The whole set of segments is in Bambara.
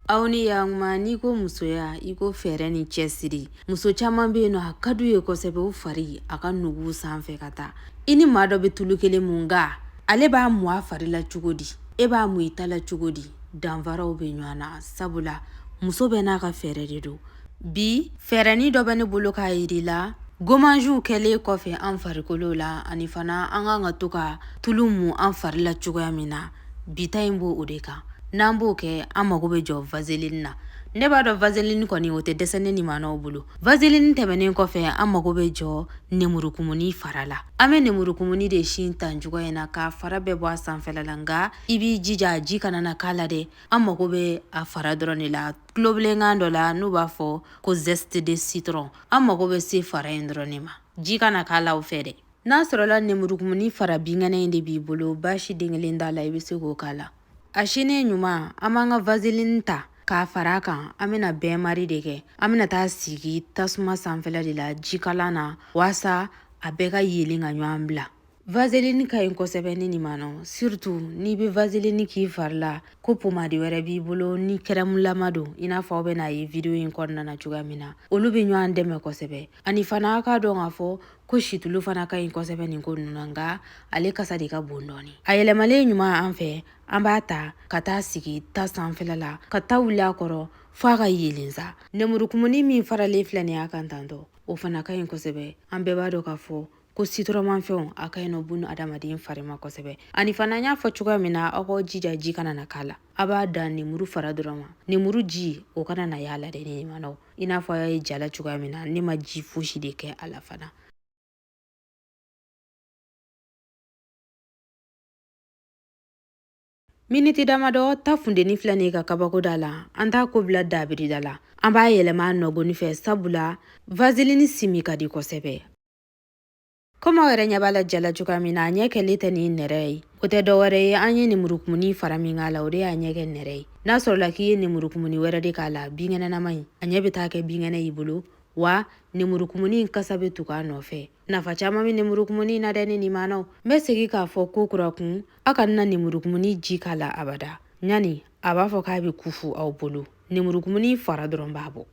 aw ni yakuma n'i ko musoya i ko fɛɛrɛ ni cɛsiri muso caaman be yen nɔ a ka d'u ye kosɛbɛ u fari a ka nugu sanfɛ ka taa i ni maa dɔ be tulu kelen mun nga ale b'a mu a fari la cogo di e b'a mu i ta la cogo di danfaraw be ɲɔgɔn na sabula muso bɛɛ n'a ka fɛɛrɛ de don bi fɛɛrɛni dɔ bɛ ne bolo k'a yir'i la gomaziw kɛlen kɔfɛ an farikolo la ani fana an kan ka to ka tulu mun an fari la cogoya min na bi ta in b'o de kan n'an b'o kɛ an mago bɛ jɔ vaseline na ne b'a dɔn vaseline kɔni o tɛ dɛsɛ ne nimanaw bolo vaseline tɛmɛnen kɔfɛ an mago bɛ jɔ nemurukumuni fara la an bɛ nemurukumuni de sin tan cogoya in na k'a fara bɛɛ bɔ a sanfɛla la nka i b'i jija ji kana na k'a la dɛ an mago bɛ a fara dɔrɔn de la tulobilenkan dɔ la n'u b'a fɔ ko zeste de citron an mago bɛ se fara in dɔrɔn de ma ji kana k'a la o fɛ dɛ n'a sɔrɔla nemurukumuni fara binkɛnɛ in de b'i bolo baasi den kelen t'a la i bɛ se k'o k'a la a sinnen ɲuman an b'an ka vaseline ta k'a fara a kan an bɛna bain-marie de kɛ an bɛna t'a sigi tasuma sanfɛla de la jikalan na waasa a bɛɛ ka yelen ka ɲɔgɔn bila vaseline ka ɲi kosɛbɛ ne nimanaw surtout n'i bɛ vaseline k'i fari la ko pomadi wɛrɛ b'i bolo ni kɛrɛmulama don i n'a fɔ aw bɛn'a ye video in kɔnɔna na cogoya min na olu bɛ ɲɔgɔn dɛmɛ kosɛbɛ Ani fana aw k'a dɔn k'a fɔ ko situlu fana ka ɲi kosɛbɛ nin ko ninnu na nka ale kasa de ka bon dɔɔni a yɛlɛmalen ɲuman an fɛ an b'a ta ka t'a sigi ta sanfɛla la ka ta wuli a kɔrɔ f'a ka yelen sa nemurukumuni min faralen filɛ nin y'a kan tantɔ o fana ka ɲi kosɛbɛ an bɛɛ b'a dɔn k'a fɔ ko sitɔrɔnmafɛnw a ka ɲi nɔ bunadamaden fari ma kosɛbɛ ani fana n y'a fɔ cogoya min na aw k'aw jija ji kana na k'a la a b'a dan nemuru fara dɔrɔn ma nemuru ji o kana na y'a la dɛ ne nimanaw i n'a fɔ a y'a ye jala cogoya min na ne ma ji fosi de kɛ a la fana Miniti damadɔ ta funteni filɛ nin ka kabako da la an t'a ko bila dabiri da la an b'a yɛlɛma nɔgɔni fɛ sabula vazilini simi ka di kosɛbɛ komi aw yɛrɛ ɲɛ b'a la jala cogoya min na a ɲɛ kɛlen tɛ nin nɛrɛ ye o tɛ dɔ wɛrɛ ye an ye nemurukumuni fara min k'a la o de y'a ɲɛ kɛ nɛrɛ ye n'a sɔrɔla k'i ye nemurukumuni wɛrɛ de k'a la binkɛnɛnama in a ɲɛ bɛ taa kɛ binkɛnɛ y'i bolo wa nemurukumuni in kasa bɛ tugu a nɔfɛ nafa caman bɛ nemurukumuni in na dɛ ne nimanaw n bɛ segin k'a fɔ kokura kun aw kana nemurukumuni ji k'a la abada yani a b'a fɔ k'a bɛ kufu aw bolo nemurukumuni fara dɔrɔn b'a bɔ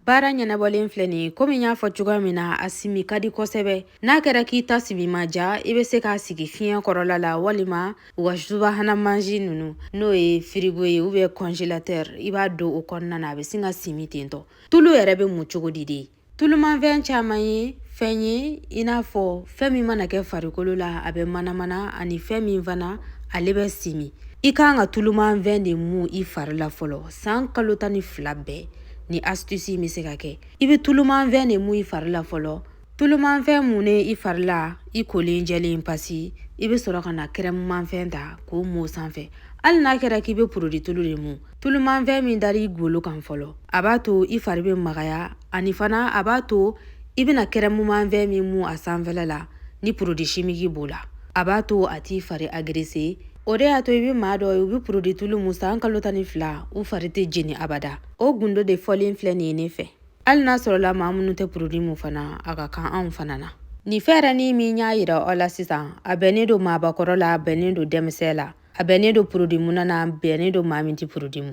baara ɲɛnabɔlen filɛ nin komi n y'a fɔ cogoya min na a simi ka di kosɛbɛ n'a kɛra k'i ta simi ma ja i bɛ se k'a sigi fiɲɛ kɔrɔla la walima u ka subahana mansin ninnu n'o ye firigo ye ubiyɛn kɔnzelatɛri i b'a don o kɔnɔna na a bɛ sin ka simi tentɔ tulu yɛrɛ bɛ mun cogo di de Tulumanfɛn caman ye fɛn ye i n'a fɔ fɛn min mana kɛ farikolo la a bɛ manamana ani fɛn min fana ale bɛ simi i kan ka tulumanfɛn de mu i fari la fɔlɔ san kalo tan ni fila bɛɛ nin asitisi bɛ se ka kɛ i bɛ tulumanfɛn de mu i fari la fɔlɔ tulumanfɛn munnen i fari la i kolen jɛlen pasi i bɛ sɔrɔ ka na kɛrɛmumanfɛn ta k'o mu sanfɛ hali n'a kɛra k'i bɛ porodi tulu de mu tulumanfɛn min dara i golo kan fɔlɔ a b'a to i fari bɛ magaya ani fana a b'a to i bɛna kɛrɛmumanfɛn min mu a sanfɛla la ni porodi simiki b'o la a b'a to a t'i fari agrese o de y'a to i bɛ maa dɔ ye u bɛ porodi tulu mu san kalo tan ni fila u fari tɛ jeni abada o gundo de fɔlen filɛ nin ye ne fɛ hali n'a sɔrɔla maa minnu tɛ porodi mu fana a ka kan anw fana na nin fɛɛrɛnin min y'a yira aw la sisan a bɛnnen don maabakɔrɔ la a bɛnnen don denmisɛn la a bɛnnen don porodi munna na a bɛnnen don maa min tɛ porodi mu